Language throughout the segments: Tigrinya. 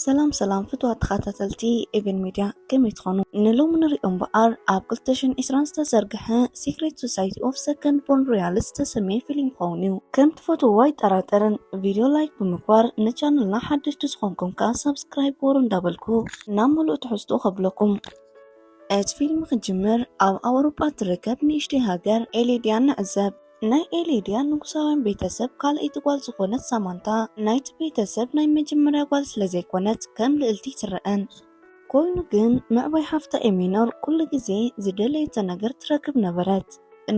ሰላም ሰላም ፍትዋት ተኸታተልቲ ኤቨን ሚድያ ከመይ ትኾኑ? ንሎሚ ንሪኦ እምበኣር ኣብ 2020 ዝተዘርግሐ ሲክሬት ሶሳይቲ ኦፍ ሰከንድ ቦርን ሮያልስ ዝተሰመየ ፊልም ይኸውን እዩ። ከም ትፈትውዎ ኣይጠራጠርን። ቪድዮ ላይክ ብምግባር ንቻነልና ሓደሽቲ ዝኾንኩም ከኣ ሳብስክራይብ ግበሩ እንዳበልኩ ናብ ምሉእ ትሕዝትኡ ከብለኩም። እቲ ፊልም ክጅምር ኣብ ኣውሮጳ እትርከብ ንእሽተይ ሃገር ኤሌድያ ንዕዘብ። ናይ ኤሌድያ ንጉሳውያን ቤተሰብ ካልኣይቲ ጓል ዝኾነት ሳማንታ፣ ናይቲ ቤተሰብ ናይ መጀመርያ ጓል ስለዘይኮነት ከም ልእልቲ ኣይትረኣን። ኮይኑ ግን ምዕባይ ሓፍታ ኤሚኖር ኩሉ ግዜ ዝደለየቶ ነገር ትረክብ ነበረት።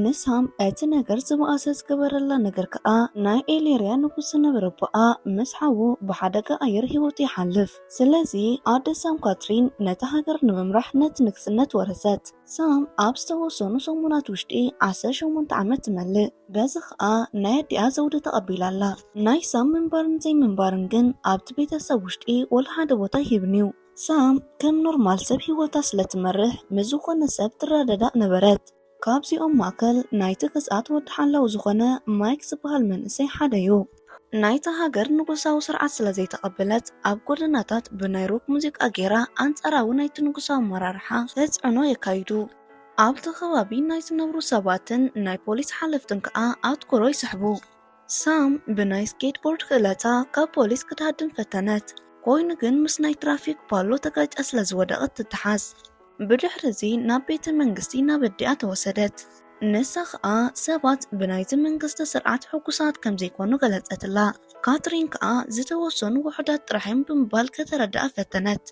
ንሳም እቲ ነገር ዝበኣሰ ዝገበረላ ነገር ከኣ ናይ ኤሌርያ ንጉስ ዝነበረ ኣቦኣ ምስ ሓዉ ብሓደጋ ኣየር ህይወቱ ይሓልፍ። ስለዚ ኣደ ሳም ካትሪን ነታ ሃገር ንምምራሕ ነቲ ንግስነት ወረሰት። ሳም ኣብ ዝተወሰኑ ሰሙናት ውሽጢ ዓሰርተ ሸሞንተ ዓመት ትመልእ። በዚ ኸኣ ናይ ኣዲኣ ዘውዲ ተቐቢላ ኣላ። ናይ ሳም ምንባርን ዘይምንባርን ግን ኣብቲ ቤተሰብ ውሽጢ ወላ ሓደ ቦታ ኣይህብን'ዩ። ሳም ከም ኖርማል ሰብ ህይወታ ስለ ትመርሕ ምስ ዝኾነ ሰብ ትረዳዳእ ነበረት። ካብዚኦም ማእከል ናይቲ ግዝኣት ወዲ ሓላው ዝኾነ ማይክ ዝበሃል መንእሰይ ሓደ'ዩ። ናይታ ሃገር ንጉሳዊ ስርዓት ስለ ዘይተቐበለት፣ ኣብ ጎደናታት ብናይ ሮክ ሙዚቃ ገይራ ኣንጻራዊ ናይቲ ንጉሳዊ ኣመራርሓ ተጽዕኖ የካይዱ። ኣብቲ ከባቢ ናይ ዝነብሩ ሰባትን ናይ ፖሊስ ሓለፍትን ከኣ ኣትኩሮ ይስሕቡ። ሳም ብናይ ስኬትቦርድ ክእለታ ካብ ፖሊስ ክትሃድም ፈተነት፣ ኰይኑ ግን ምስ ናይ ትራፊክ ፓሎ ተጋጭያ ስለ ዝወደቐት ትተሓዝ። ብድሕሪ እዚ ናብ ቤተ መንግስቲ ናብ ኣዲኣ ተወሰደት። ንሳ ኸኣ ሰባት ብናይዚ መንግስቲ ስርዓት ሕጉሳት ከም ዘይኰኑ ገለጸትላ። ካትሪን ከኣ ዝተወሰኑ ውሑዳት ጥራሕ እዮም ብምባል ከተረድኣ ፈተነት።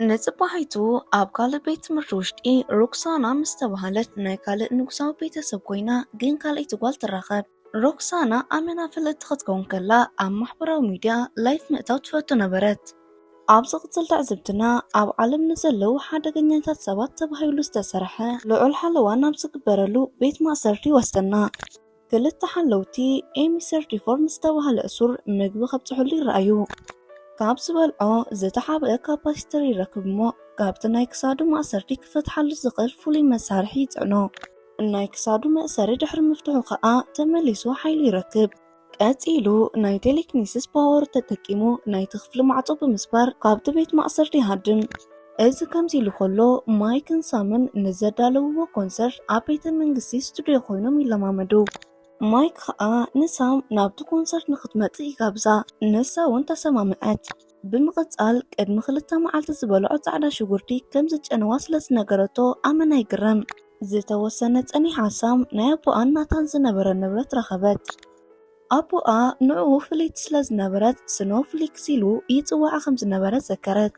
ንጽባሒቱ ኣብ ካልእ ቤት ትምህርቲ ውሽጢ ሮክሳና ምስ ተባህለት ናይ ካልእ ንጉሳዊ ቤተ ሰብ ኰይና ግን ካልኣይቲ ጓል ትራኸብ። ሮክሳና ኣመና ፍልጥቲ ክትከውን ከላ ኣብ ማሕበራዊ ሚድያ ላይፍ ምእታው ትፈቱ ነበረት። ኣብ ዝቕጽል ትዕዝብትና ኣብ ዓለም ንዘለዉ ሓደገኛታት ሰባት ተባሂሉ ዝተሰርሐ ልዑል ሓለዋ ናብ ዝግበረሉ ቤት ማእሰርቲ ይወስደና። ክልተ ሓለውቲ ኤሚ ሰርቲ ፎር ንዝተባህለ እሱር ምግቢ ከብጽሕሉ ይረኣዩ። ካብ ዝበልዖ ዝተሓብአ ካፓሲተር ይረክብ እሞ ካብቲ ናይ ክሳዱ ማእሰርቲ ክፈትሓሉ ዝኽእል ፍሉይ መሳርሒ ይጽዕኖ። ናይ ክሳዱ መእሰሪ ድሕሪ ምፍትሑ ከኣ ተመሊሱ ሓይሊ ይረክብ። ቀጺሉ ናይ ቴሌክኒሲስ ፓወር ተጠቂሙ ናይቲ ክፍሊ ማዕጾ ብምስባር ካብቲ ቤት ማእሰርቲ ይሃድም። እዚ ከምዚ ኢሉ ከሎ ማይክን ሳምን ንዘዳለውዎ ኮንሰርት ኣብ ቤተ መንግስቲ ስቱድዮ ኮይኖም ይለማመዱ። ማይክ ከኣ ንሳም ናብቲ ኮንሰርት ንክትመጽእ ይጋብዛ ንሳ ውን ተሰማምዐት። ብምቕጻል ቅድሚ ክልተ መዓልቲ ዝበልዖ ጻዕዳ ሽጉርቲ ከም ዝጨነዋ ስለ ዝነገረቶ ኣመና ይግረም። ዝተወሰነ ጸኒሓ ሳም ናይ ኣቦኣን ናታን ዝነበረ ንብረት ረኸበት። ኣቦኣ ንዕኡ ፍልይቲ ስለ ዝነበረት ስኖው ፍሊክስ ኢሉ ይጽውዓ ከም ዝነበረ ዘከረት።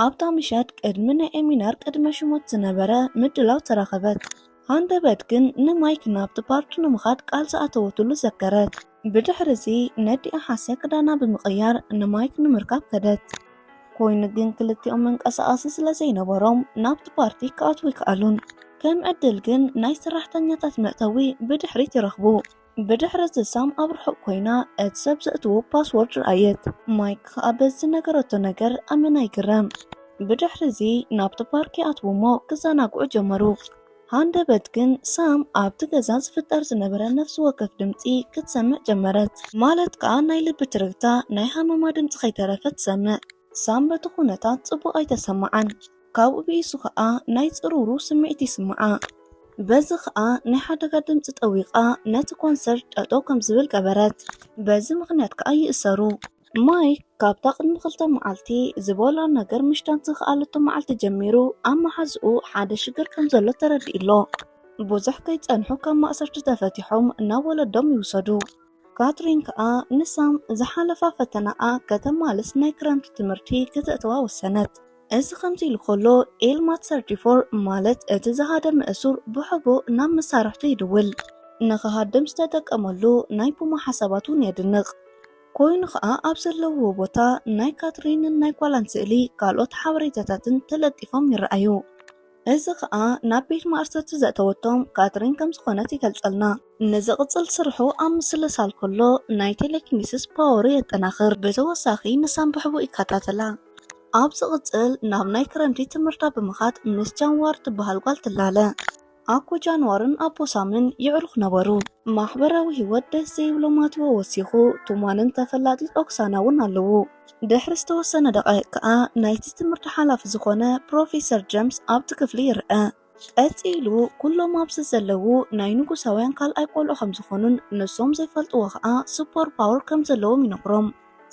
ኣብታ ምሸት ቅድሚ ናይ ኤሚናር ቅድመ ሽሞት ዝነበረ ምድላው ተረኸበት። ሃንደበት ግን ንማይክ ናብቲ ፓርቲ ንምኻድ ቃል ዝኣተወትሉ ዘከረት። ብድሕሪ እዚ ነዲኣ ሓሲያ ክዳና ብምቕያር ንማይክ ንምርካብ ከደት። ኮይኑ ግን ክልቲኦም መንቀሳቐሲ ስለ ዘይነበሮም ናብቲ ፓርቲ ክኣትዉ ኣይከኣሉን። ከም ዕድል ግን ናይ ሰራሕተኛታት መእተዊ ብድሕሪት ይረኽቡ። ብድሕሪ እዚ ሳም ኣብ ርሑቕ ኮይና እቲ ሰብ ዘእትዎ ፓስዎርድ ረኣየት። ማይክ ከኣ በዚ ዝነገረቶ ነገር ኣመና ይግረም። ብድሕሪ እዚ ናብቲ ፓርክ ይኣትዉ እሞ ክዘናግዑ ጀመሩ። ሃንደበት ግን ሳም ኣብቲ ገዛ ዝፍጠር ዝነበረ ነፍሲ ወከፍ ድምጺ ክትሰምዕ ጀመረት። ማለት ከኣ ናይ ልቢ ትርግታ፣ ናይ ሃመማ ድምጺ ከይተረፈ ትሰምዕ። ሳም በቲ ኩነታት ጽቡቕ ኣይተሰመዓን። ካብኡ ብኢሱ ከኣ ናይ ጽርውርው ስምዒት ይስመዓ። በዚ ከኣ ናይ ሓደጋ ድምጺ ጠዊቓ ነቲ ኮንሰርት ጠጠው ከም ዝብል ገበረት። በዚ ምኽንያት ከኣ ይእሰሩ። ማይክ ካብታ ቅድሚ ክልተ መዓልቲ ዝበልዖ ነገር ምሽታት ዝኸኣለቶ መዓልቲ ጀሚሩ ኣብ መሓዝኡ ሓደ ሽግር ከም ዘሎ ተረዲኡ'ሎ። ብዙሕ ከይጸንሑ ካብ ማእሰርቲ ተፈቲሖም ናብ ወለዶም ይውሰዱ። ካትሪን ከኣ ንሳም ዝሓለፋ ፈተናኣ ከተማልስ ናይ ክረምቲ ትምህርቲ ክተእትዋ ወሰነት። እዚ ከምዚ ኢሉ ከሎ ኤልማት ሰርቲ ፎር ማለት እቲ ዝሃደመ እሱር ብሕቡእ ናብ መሳርሕቱ ይድውል። ንኽሃድም ዝተጠቀመሉ ናይ ፑማ ሓሳባት እውን የድንቕ። ኮይኑ ከኣ ኣብ ዘለውዎ ቦታ ናይ ካትሪንን ናይ ጓላን ስእሊ ካልኦት ሓበሬታታትን ተለጢፎም ይረኣዩ። እዚ ከኣ ናብ ቤት ማእሰርቲ ዘእተወቶም ካትሪን ከም ዝኾነት ይገልጸልና። ንዝቕጽል ስርሑ ኣብ ምስልሳል ከሎ ናይ ቴሌኪኒሲስ ፓወሩ የጠናኽር። ብተወሳኺ ንሳን ብሕቡእ ይከታተላ። ኣብ ዝቕጽል ናብ ናይ ክረምቲ ትምህርታ ብምኻድ ምስ ጃን ዋር ትበሃል ጓል ትላለ። ኣኮ ጃንዋርን ኣቦ ሳምን ይዕሩኽ ነበሩ። ማሕበራዊ ህይወት ደስ ዘይብሎ ማቲዎ ወሲኹ፣ ቱማንን ተፈላጢት ኦክሳና እውን ኣለዉ። ድሕሪ ዝተወሰነ ደቓይቕ ከኣ ናይቲ ትምህርቲ ሓላፊ ዝኾነ ፕሮፌሰር ጀምስ ኣብቲ ክፍሊ ይርኣ። ቀጺሉ ኩሎም ኣብዚ ዘለዉ ናይ ንጉሳውያን ካልኣይ ቆልዑ ከም ዝኾኑን ንሶም ዘይፈልጥዎ ከኣ ሱፐር ፓወር ከም ዘለዎም ይነግሮም።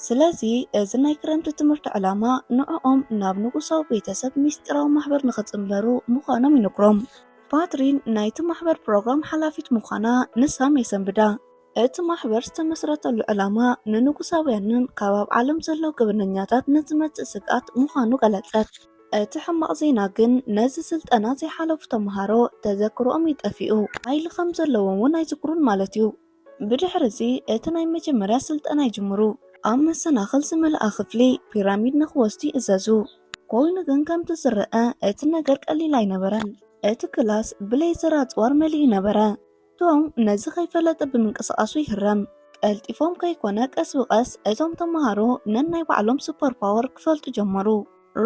ስለዚ እዚ ናይ ክረምቲ ትምህርቲ ዕላማ ንዕኦም ናብ ንጉሳዊ ቤተሰብ ምስጢራዊ ማሕበር ንኽጽንበሩ ምዃኖም ይነግሮም። ፓትሪን ናይቲ ማሕበር ፕሮግራም ሓላፊት ምዃና ንሳም የሰንብዳ። እቲ ማሕበር ዝተመስረተሉ ዕላማ ንንጉሳውያንን ካብ ኣብ ዓለም ዘለዉ ገበነኛታት ንዝመጽእ ስግኣት ምዃኑ ገለጸት። እቲ ሕማቕ ዜና ግን ነዚ ስልጠና ዘይሓለፉ ተመሃሮ ተዘክሮኦም እዩ ጠፊኡ። ሓይሊ ከም ዘለዎም እውን ኣይዝክሩን ማለት እዩ። ብድሕሪ እዚ እቲ ናይ መጀመርያ ስልጠና ይጅምሩ። ኣብ መሰናኽል ዝመልኣ ክፍሊ ፒራሚድ ንኽወስዱ ይእዘዙ። ኮይኑ ግን ከምቲ ዝረኣ እቲ ነገር ቀሊል ኣይነበረን። እቲ ክላስ ብሌዘር ኣጽዋር መሊኡ ነበረ። ቶም ነዚ ከይፈለጠ ብምንቅስቓሱ ይህረም። ቀልጢፎም ከይኮነ ቀስ ብቐስ እቶም ተመሃሮ ነናይ ባዕሎም ሱፐርፓወር ክፈልጡ ጀመሩ።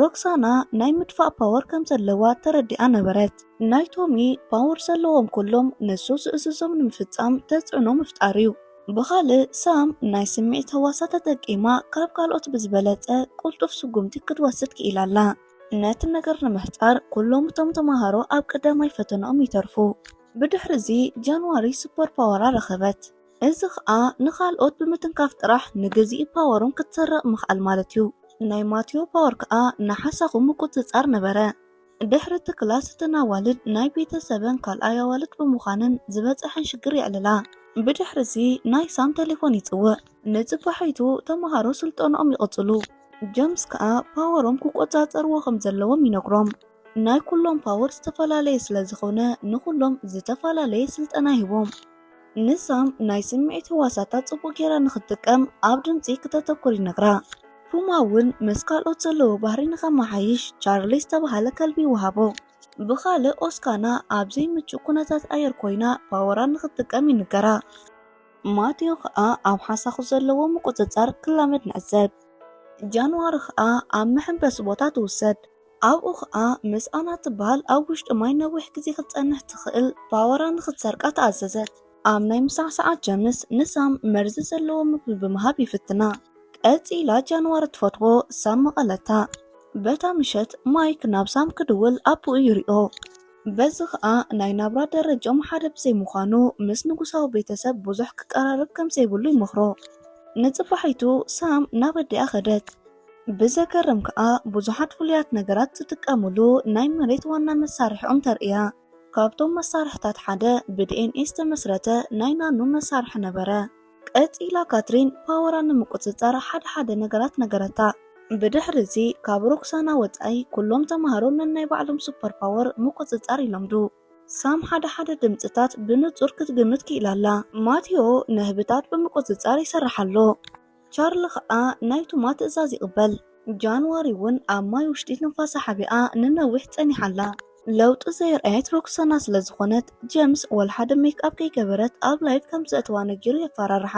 ሮክሳና ናይ ምድፋእ ፓወር ከም ዘለዋ ተረዲኣ ነበረት። ናይ ቶሚ ፓወር ዘለዎም ኩሎም ንሱ ዝእዝዞም ንምፍጻም ተጽዕኖ ምፍጣር'ዩ። ብኻልእ ሳም ናይ ስምዒት ህዋሳ ተጠቂማ ካብ ካልኦት ብዝበለጸ ቅልጡፍ ስጉምቲ ክትወስድ ክኢላ ኣላ። ነቲ ነገር ንምሕጻር ኩሎም እቶም ተማሃሮ ኣብ ቀዳማይ ፈተነኦም ይተርፉ። ብድሕሪ'ዚ ጃንዋሪ ሱፐር ፓወራ ረኸበት። እዚ ኸኣ ንኻልኦት ብምትንካፍ ጥራሕ ንግዝኢ ፓወሮም ክትሰርቕ ምኽኣል ማለት እዩ። ናይ ማቲዮ ፓወር ከኣ ንሓሳኹ ምቁጽጻር ነበረ። ድሕሪ እቲ ክላስ እተን ኣዋልድ ናይ ቤተ ሰበን ካልኣይ ኣዋልድ ብምዃነን ዝበጸሐን ሽግር የዕልላ። ብድሕሪ እዚ ናይ ሳም ተሌፎን ይጽውዕ። ንጽባሒቱ ተመሃሮ ስልጠንኦም ይቕጽሉ። ጀምስ ከኣ ፓወሮም ክቆጻጸርዎ ከም ዘለዎም ይነግሮም። ናይ ኩሎም ፓወር ዝተፈላለየ ስለ ዝኾነ ንኹሎም ዝተፈላለየ ስልጠና ይህቦም። ንሳም ናይ ስምዒት ህዋሳታ ጽቡቕ ጌራ ንኽትጥቀም ኣብ ድምጺ ክተተኩር ይነግራ። ፑማ እውን ምስ ካልኦት ዘለዎ ባህሪ ንኸመሓይሽ ቻርሊ ዝተበሃለ ከልቢ ይወሃቦ። ብኻልእ ኦስካና ኣብ ዘይምቹእ ኩነታት ኣየር ኮይና ፓወራ ንኽትጥቀም ይንገራ። ማቲዮ ኸኣ ኣብ ሓሳኹ ዘለዎ ምቁጽጻር ክላመድ ንዕዘብ። ጃንዋሪ ኸኣ ኣብ መሐንበሲ ቦታ ትውሰድ። ኣብኡ ኸኣ ምስኣና እትበሃል ኣብ ውሽጢ ማይ ነዊሕ ግዜ ኽትጸንሕ እትኽእል ባወራ ንኽትሰርቃ ተኣዘዘት። ኣብ ናይ ምሳሕ ሰዓት ጀምስ ንሳም መርዚ ዘለዎ ምግቢ ብምሃብ ይፍትና። ቀጺላ ጃንዋር እትፈትዎ ሳም መቐለታ። በታ ምሸት ማይክ ናብ ሳም ክድውል ኣቦኡ ይሪኦ። በዚ ኸኣ ናይ ናብራ ደረጅኦም ሓደ ብዘይምዃኑ ምስ ንጉሳዊ ቤተሰብ ብዙሕ ክቀራረብ ከምዘይብሉ ይመኽሮ። ንጽባሒቱ ሳም ናብ ኣዲኣ ኸደት። ብዘገርም ከኣ ብዙሓት ፍሉያት ነገራት ዝጥቀምሉ ናይ መሬት ዋና መሳርሒኦም ተርእያ። ካብቶም መሳርሒታት ሓደ ብዲኤንኤ ዝተመስረተ ናይ ናኖ መሳርሒ ነበረ። ቀጺላ ካትሪን ፓወራ ንምቁጽጻር ሓደ ሓደ ነገራት ነገረታ። ብድሕሪ እዚ ካብ ሮክሳና ወጻኢ ኩሎም ተማሃሮ ነናይ ባዕሎም ሱፐር ፓወር ምቁጽጻር ይለምዱ። ሳም ሓደ ሓደ ድምጽታት ብንጹር ክትግምት ክኢላ ኣላ። ማቲዮ ንህቢታት ብምቁጽጻር ይሰርሕ ኣሎ። ቻርሊ ኸኣ ናይ ቱማ ትእዛዝ ይቕበል። ጃንዋሪ እውን ኣብ ማይ ውሽጢ ትንፋሳ ሓቢኣ ንነዊሕ ጸኒሓ ኣላ። ለውጢ ዘየርኣየት ሮክሰና ስለ ዝኾነት፣ ጀምስ ወላ ሓደ ሜክኣፕ ከይገበረት ኣብ ላይቭ ከም ዘእትዋ ነጊሩ የፋራርሓ።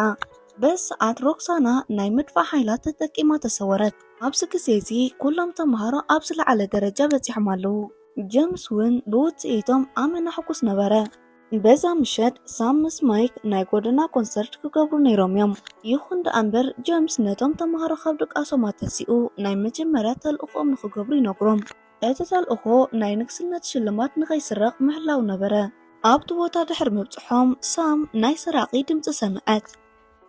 በዚ ሰዓት ሮክሳና ናይ ምድፋእ ሓይላ ተጠቂማ ተሰወረት። ኣብዚ ግዜ እዚ ኩሎም ተመሃሮ ኣብ ዝለዓለ ደረጃ በጺሖም ኣለዉ። ጀምስ እውን ብውጽኢቶም ኣመና ሕጉስ ነበረ። በዛ ምሸት ሳም ምስ ማይክ ናይ ጎደና ኮንሰርት ክገብሩ ነይሮም እዮም። ይኹን ደኣ እምበር ጀምስ ነቶም ተማሃሮ ካብ ድቃሶም ኣተሲኡ ናይ መጀመርያ ተልእኾኦም ንኽገብሩ ይነግሮም። እቲ ተልእኾ ናይ ንግስነት ሽልማት ንኸይስረቕ ምሕላው ነበረ። ኣብቲ ቦታ ድሕሪ ምብጽሖም ሳም ናይ ሰራቒ ድምጺ ሰምዐት።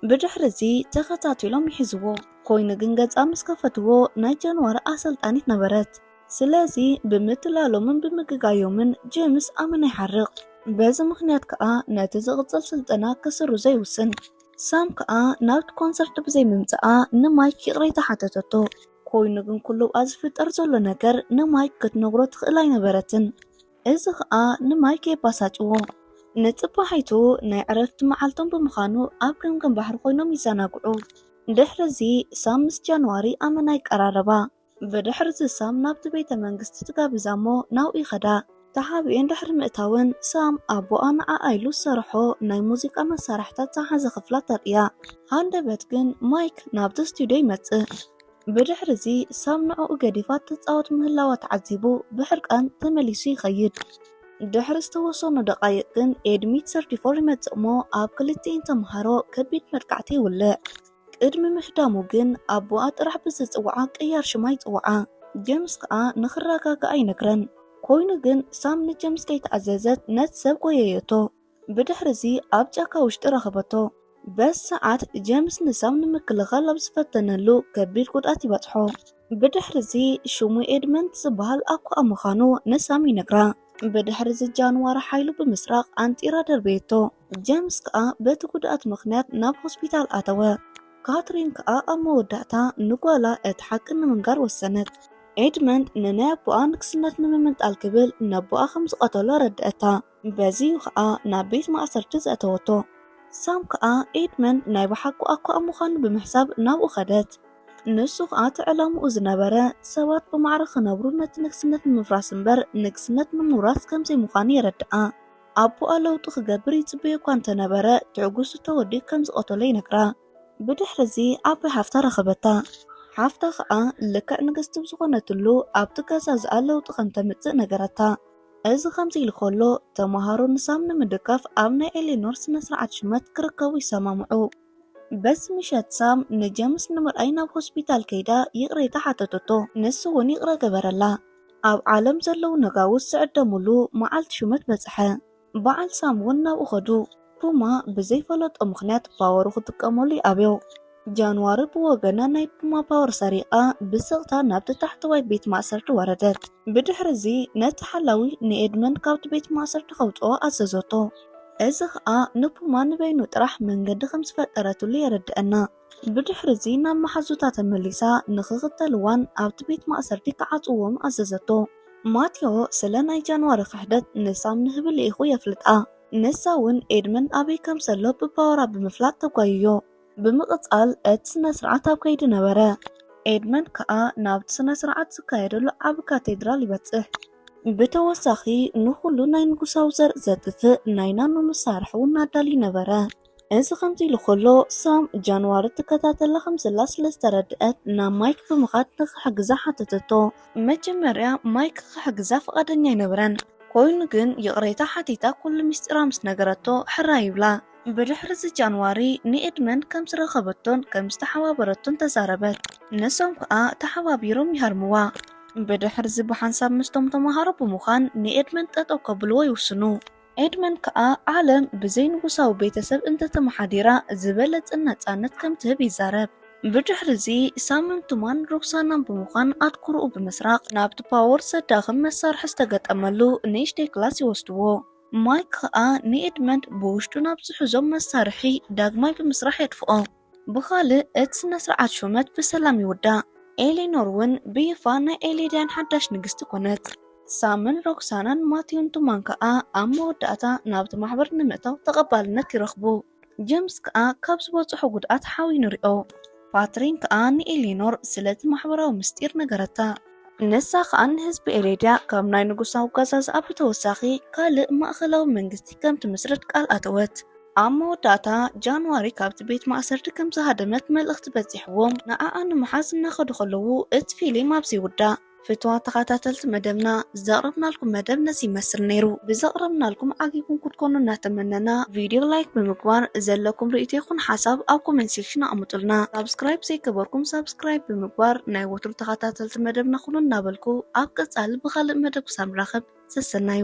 ብድሕሪ እዚ ተኸታቲሎም ይሕዝዎ። ኮይኑ ግን ገጻ ምስ ከፈትዎ ናይ ጃንዋሪ ኣሰልጣኒት ነበረት። ስለዚ ብምትላሎምን ብምግጋዮምን ጀምስ ኣመና ይሓርቕ። በዚ ምኽንያት ከኣ ነቲ ዝቕጽል ስልጠና ክስርዞ ይውስን። ሳም ከኣ ናብቲ ኮንሰርት ብዘይ ምምጽኣ ንማይክ ይቕሬታ ሓተተቶ። ኮይኑ ግን ኩሉ ብኣ ዝፍጠር ዘሎ ነገር ንማይክ ክትነግሮ ትኽእል ኣይነበረትን። እዚ ኸኣ ንማይክ የበሳጭዎ። ንጽባሒቱ ናይ ዕረፍቲ መዓልቶም ብምዃኑ ኣብ ገምገም ባሕሪ ኮይኖም ይዘናግዑ። ድሕርዚ ሳም ምስ ጃንዋሪ ኣመና ይቀራረባ። ብድሕርዚ ሳም ናብቲ ቤተ መንግስቲ ትጋብዛ እሞ ናብኡ ይኸዳ። ተሓቢኤን ድሕሪ ምእታወን ሳም ኣቦኣ ንዓኣ ኢሉ ዝሰርሖ ናይ ሙዚቃ መሳርሒታት ዝሓዘ ክፍላ ተርእያ። ሃንደበት ግን ማይክ ናብቲ ስቱድዮ ይመጽእ። ብድሕርዚ ሳም ንዕኡ ገዲፋ ትጻወት ምህላዋ ተዓዚቡ ብሕርቃን ተመሊሱ ይኸይድ። ድሕሪ ዝተወሰኑ ደቓይቕ ግን ኤድሚት ሰርቲ ፎር ይመጽእ እሞ ኣብ ክልቲኤን ተመሃሮ ከቢድ መጥቃዕቲ ይውልዕ። ቅድሚ ምህዳሙ ግን ኣቦኣ ጥራሕ ብዝጽውዓ ቅያር ሽማ ይጽውዓ። ጀምስ ከኣ ንኽረጋጋኣ ይነግረን። ኮይኑ ግን ሳም ንጀምስ ከይተኣዘዘት ነቲ ሰብ ጎየየቶ። ብድሕሪ እዚ ኣብ ጫካ ውሽጢ ረኸበቶ። በዚ ሰዓት ጀምስ ንሳም ንምክልኻል ኣብ ዝፈተነሉ ከቢድ ጉድኣት ይበጽሖ። ብድሕሪ እዚ ሽሙ ኤድመንት ዝበሃል ኣኳኣ ምዃኑ ንሳም ይነግራ። ብድሕሪ እዚ ጃንዋር ሓይሉ ብምስራቕ ኣንጢራ ደርበየቶ። ጀምስ ከኣ በቲ ጉድኣት ምኽንያት ናብ ሆስፒታል ኣተወ። ካትሪን ከኣ ኣብ መወዳእታ ንጓላ እቲ ሓቂ ንምንጋር ወሰነት። ኤድመንት ንናይ ኣቦኣ ንግስነት ንምምንጣል ክብል ነቦኣ ከም ዝቐተሎ ኣረድኣታ። በዚ'ዩ ከኣ ናብ ቤት ማእሰርቲ ዘእተወቶ። ሳም ከኣ ኤድመን ናይ ብሓቁ ኣኳኣ ምዃኑ ብምሕሳብ ናብኡ ከደት። ንሱ ከኣ እቲ ዕላምኡ ዝነበረ ሰባት ብማዕረ ክነብሩን ነቲ ንግስነት ንምፍራስ እምበር ንግስነት ንምውራስ ከም ዘይምዃኑ የረድኣ። ኣቦኣ ለውጢ ክገብር ይጽበዮ እኳ እንተ ነበረ ትዕጉስ እቶ ወዲ ከም ዝቐተሎ ይነግራ። ብድሕሪ'ዚ ዓባይ ሓፍታ ረኸበታ። ሓፍታ ከኣ ልክዕ ንግስቲ ብዝኾነትሉ ኣብቲ ገዛ'ዝኣ ለውጢ ከም ተምጽእ ነገረታ። እዚ ከምዚ ኢሉ ከሎ፣ ተመሃሮ ንሳም ንምድጋፍ ኣብ ናይ ኤሌኖር ስነ-ስርዓት ሽመት ክርከቡ ይሰማምዑ። በቲ ምሸት ሳም ንጀምስ ንምርኣይ ናብ ሆስፒታል ከይዳ ይቕሬታ ሓተተቶ፣ ንሱ'ውን ይቕረ ገበረላ። ኣብ ዓለም ዘለዉ ነጋውስ ዝዕደምሉ መዓልቲ ሽመት በጽሐ፣ በዓል ሳም'ውን ናብኡ ከዱ። ፑማ ብዘይፈለጦ ምኽንያት ፓወሩ ክጥቀመሉ ይኣብዮ። ጃንዋሪ ብወገና ናይ ፑማ ፓወር ሰሪቓ ብስቕታ ናብቲ ታሕተዋይ ቤት ማእሰርቲ ወረደት። ብድሕሪ'ዚ ነቲ ሓላዊ ንኤድመንድ ካብቲ ቤት ማእሰርቲ ከውጽኦ ኣዘዘቶ። እዚ ኸኣ ንፑማ ንበይኑ ጥራሕ መንገዲ ከም ዝፈጠረትሉ የረድኣና። ብድሕሪ'ዚ ናብ መሓዙታ ተመሊሳ ንኽኽተልዋን ኣብቲ ቤት ማእሰርቲ ክዓጽውዎምን ኣዘዘቶ። ማቴዎ ስለ ናይ ጃንዋሪ ክሕደት ንሳም ንህቢ ልኢኹ የፍልጣ። ንሳ እውን ኤድመን ኣበይ ከም ዘሎ ብፓወራ ብምፍላጥ ተጓይዮ። ብምቕጻል እቲ ስነ ስርዓት ኣብ ከይዲ ነበረ። ኤድመን ከኣ ናብቲ ስነ ስርዓት ዝካየደሉ ዓቢ ካቴድራል ይበጽሕ። ብተወሳኺ ንኹሉ ናይ ንጉሳዊ ዘርኢ ዘጥፍእ ናይ ናኖ መሳርሒ እውን ኣዳልዩ ነበረ። እዚ ከምዚ ኢሉ ከሎ ሳም ጃንዋሪ ትከታተላ ከም ዘላ ስለ ዝተረድኣት ናብ ማይክ ብምኻድ ንኽሕግዛ ሓተተቶ። መጀመርያ ማይክ ክሕግዛ ፍቓደኛ ኣይነበረን፣ ኮይኑ ግን ይቕሬታ ሓቲታ ኩሉ ምስጢራ ምስ ነገረቶ ሕራይ ይብላ። ብድሕርዚ ጃንዋሪ ንኤድመን ከም ዝረኸበቶን ከም ዝተሓባበረቶን ተዛረበት፣ ንሶም ከኣ ተሓባቢሮም ይሃርምዋ። ብድሕርዚ ብሓንሳብ ምስቶም ተመሃሮ ብምዃን ንኤድመን ጠጠው ከብልዎ ይውስኑ። ኤድመን ከኣ ዓለም ብዘይ ንጉሳዊ ቤተሰብ እንተ ተመሓዲራ ዝበለጸ ነጻነት ከም ትህብ ይዛረብ። ብድሕርዚ ሳምን ቱማን ሮክሳናን ብምዃን ኣትኩሮኡ ብምስራቕ ናብቲ ፓወር ዘዳኽም መሳርሒ ዝተገጠመሉ ንእሽተይ ክላስ ይወስድዎ። ማይክ ከኣ ንኤድመንድ ብውሽጡ ናብ ዝሕዞም መሳርሒ ዳግማይ ብምስራሕ የጥፍኦ። ብኻልእ እቲ ስነስርዓት ሹመት ብሰላም ይውዳእ፣ ኤሌኖር ውን ብይፋ ናይ ኤሌድያን ሓዳሽ ንግስቲ ኮነት። ሳምን ሮክሳናን ማቲውን ቱማን ከኣ ኣብ መወዳእታ ናብቲ ማሕበር ንምእታው ተቐባልነት ይረኽቡ። ጀምስ ከኣ ካብ ዝበጽሖ ጉድኣት ሓውዩ ንሪኦ። ፓትሪን ከኣ ንኤሌኖር ስለቲ ማሕበራዊ ምስጢር ነገረታ። ንሳ ከኣ ንህዝቢ ኤሌድያ ካብ ናይ ንጉሳዊ ኣጓዛዝኣ ብተወሳኺ ካልእ ማእከላዊ መንግስቲ ከም ትምስርት ቃል ኣተወት። ኣብ መወዳእታ ጃንዋሪ ካብቲ ቤት ማእሰርቲ ከም ዝሃደመት መልእኽቲ በጺሕዎም ንኣኣ ንምሓዝ እናኸዱ ከለዉ እቲ ፊሊም ኣብዚ ይውዳእ። ፍትዋት ተኻታተልቲ መደብና ዘቕረብናልኩም መደብ ነዚ ይመስል ነይሩ። ብዘቕረብናልኩም ዓጊብኩም ክትኮኑ እናተመነና ቪድዮ ላይክ ብምግባር ዘለኩም ርእይቶ ይኹን ሓሳብ ኣብ ኮሜንት ሴክሽን ኣቕምጡልና። ሳብስክራይብ ዘይገበርኩም ሳብስክራይብ ብምግባር ናይ ወትሩ ተኻታተልቲ መደብና ኩኑ እናበልኩ ኣብ ቀጻሊ ብኻልእ መደብ ክሳብ ንራኸብ ሰሰናዩ።